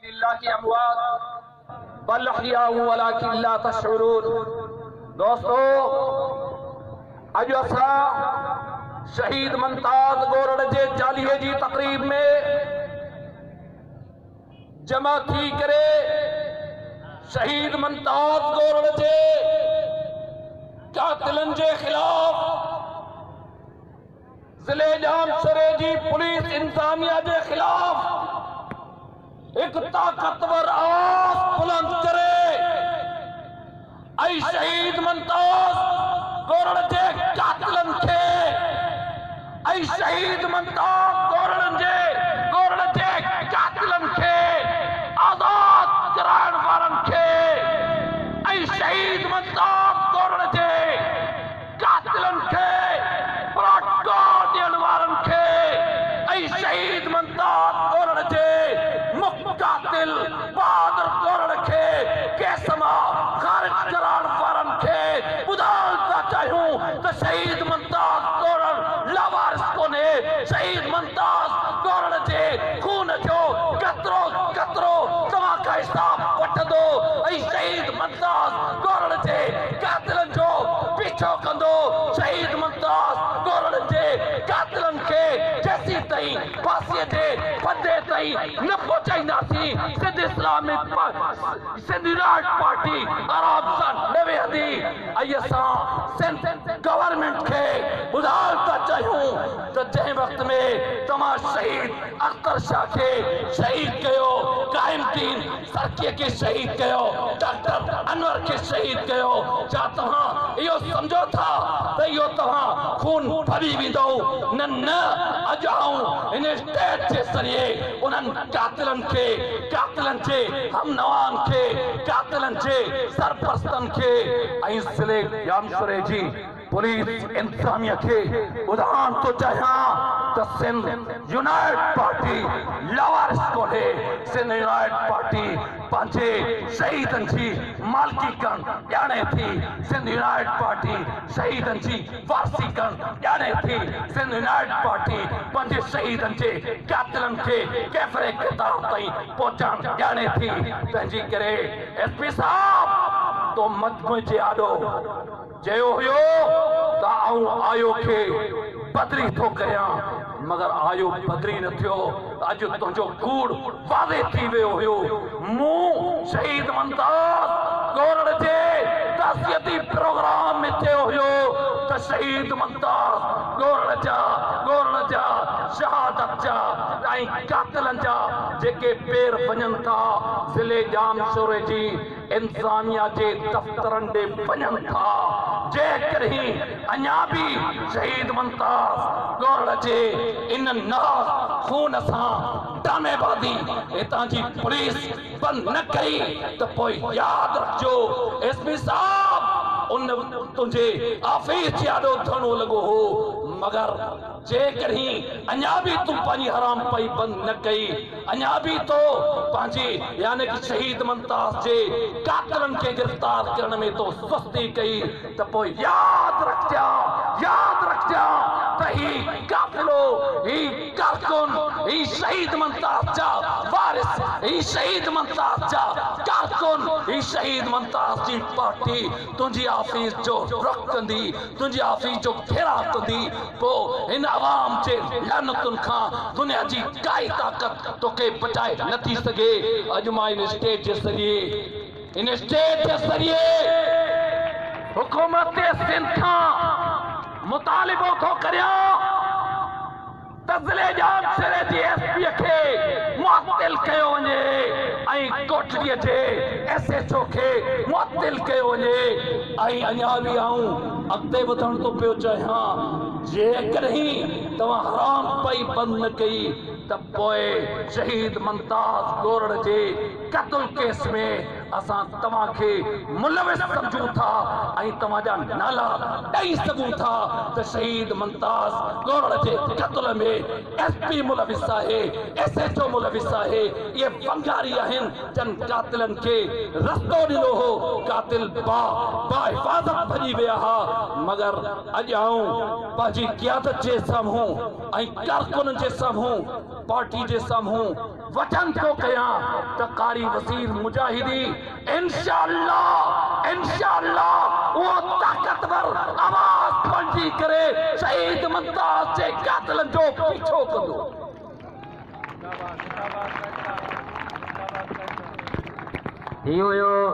الله ڪي اموات بل احياء ولکن لا تشعرون دوستو اڄ اسان شهيد ممتاز ڳورڙ جي چاليهي جي تقريب ۾ جمع ٿي ڪري شهيد ممتاز ڳورڙ جي قاتلن جي خلاف ضلعي ڄام شوري جي پوليس انتظاميا جي خلاف هڪ طاقتور آواز بلند ڪري ۽ شهيد ممتاز گورڙ جي قاتلن کي ۽ شهيد ممتاز گورڙ جي گورڙ جي قاتلن کي آزاد ڪرائڻ وارن کي ۽ شهيد ممتاز گورڙ جي قاتلن کي پروٽو ڏيڻ وارن کي ۽ شهيد ممتاز ڪورڙ جي مک قاتل بهادر ڪورڙ کي ڪيس مان خارج ڪرائڻ وارن کي ٻڌائڻ ٿا چاهيون ته شهيد ممتاز ڪورڙ لاوارث ڪونهي شهيد ممتاز ڪورڙ جي خون جو قطرو قطرو توهان کان حساب وٺندو ۽ شهيد ممتاز ڪورڙ جي قاتلن جو پيڇو ڪندو شهيد ممتاز ڪورڙن جي قاتلن کي جيسين تائين ڦاسي جي ڦندي تائين نه پهچائينداسين سنڌ اسلامڪ پ سنڌ رائٽ پارٽي آرام سان نه ويهندي ۽ اسان سنڌ گورنمينٽ کي ٻڌائڻ ٿا چاهيون ته جنهن وقت ۾ توهان شهيد اختر شاهه کي شهيد ڪيو قائم دين ترڪيء کي شهيد ڪيو، ڊاڪٽر انور کي شهيد ڪيو، ڇا توهان اهو سمجهو ٿا ته اهو توهان خون ڦري ويندو؟ نه نه اڄ آئون هن اسٽيج جي ذريعي انهن قاتلن کي، قاتلن جي هم نوان کي، قاتلن جي سرپرستن کي ۽ ضلعي ڄامشوري جي پوليس انتظاميه کي ٻڌائڻ ٿو چاهيان ته سنڌ يونائيٽ پارٽي لاوارث ڪونهي، سنڌ يونائيٽ پارٽي پنهنجي شهيدن جي مالڪي ڪرڻ ڄاڻي ٿي، سنڌ يونائيٽ پارٽي شهيدن جي وارثي ڪرڻ ڄاڻي ٿي، سنڌ يونائيٽ پارٽي پنهنجي شهيدن جي قاتلن کي ڪيفري ڪردار تائين پهچائڻ ڄاڻي ٿي، تنهنجي ڪري ايس پي صاحب تون مجموعي جي آڏو. چيو هيو ته آئون آيو کي بدري ٿو ڪريان مگر آيو بدري نه ٿيو ته اڄ تنهنجو ڪوڙ واضح ٿي ويو هيو مون شهيد ممتاز ڳورڙ جي تعزيتي پروگرام ۾ چيو هيو ته شهيد ممتاز ڳورڙ جا ڳورڙ جا شهادت جا ۽ قاتلن جا جيڪي پير وڃن ٿا ضلعي ڄامشوري جي انسانيا جي دفترن ڏي وڃن ٿا جيڪڏهن اڃا به شهيد ممتاز ڳوڙهه جي ان ناز خون سان ڊرامي بازي هتان جي پوليس بند نه ڪئي ته پوء ياد رکجو ايس پي صاحب ان تنهنجي آفيس جي آڏو ڌرڻو لڳو هو مگر جيڪڏهن اڃا به تون پنهنجي حرام پئي بند نه ڪئي، اڃا به تو پنهنجي يعني ته شهيد ممتاز جي قاتلن کي گرفتار ڪرڻ ۾ تو سستي ڪئي ته پوء ياد رکجان، ياد رکجان ته هي قافلو، هي ڪارڪن، هي شهيد ممتاز جا وارث، هي شهيد ممتاز جا ڪارڪن، هي شهيد ممتاز جي پارٽي تنهنجي آفيس جو رخ ڪندي، تنهنجي آفيس جو گهيراء ڪندي، پوء هن عوام جي لعنتن کان دنيا جي ڪائي طاقت توکي بچائي نه ٿي سگهي. اڄ مان هن اسٽيج جي ذريعي هن اسٽيج جي ذريعي حڪومت سنڌ کان مطالبو ٿو ڪريان. ته ضلعي ڄام شوري جي ايس پي کي معطل ڪيو وڃي ۽ ڪوٽڏيء جي ايس ايڇ او کي معطل ڪيو وڃي ۽ اڃا به آئون اڳتي وڌڻ ٿو پيو چاهيان جيڪڏهن توهان حرام پئي بند نه ڪئي ته پوء شهيد ممتاز گورڙ جي قتل ڪيس ۾ اسان توهان کي ملوث سمجهون ٿا ۽ توهان جا نالا ڏئي سگهون ٿا ته شهيد ممتاز ڳوڙهه جي قتل ۾ ايس پي ملوث آهي، ايس ايڇ او ملوث آهي، اهي ڀنگاري آهن جن قاتلن کي رستو ڏنو هو، قاتل با با حفاظت ڀڄي ويا ها مگر اڄ آئون پنهنجي قيادت جي سامهون ۽ ڪارڪنن جي سامهون پارٽي جي سامهون وچن ٿو ڪيان ته قاري وزير مجاهدي انشاء الله انشاء الله اهو طاقتور آواز بڻجي ڪري شهيد ممتاز جي قاتلن جو پيڇو ڪندو. هي هيو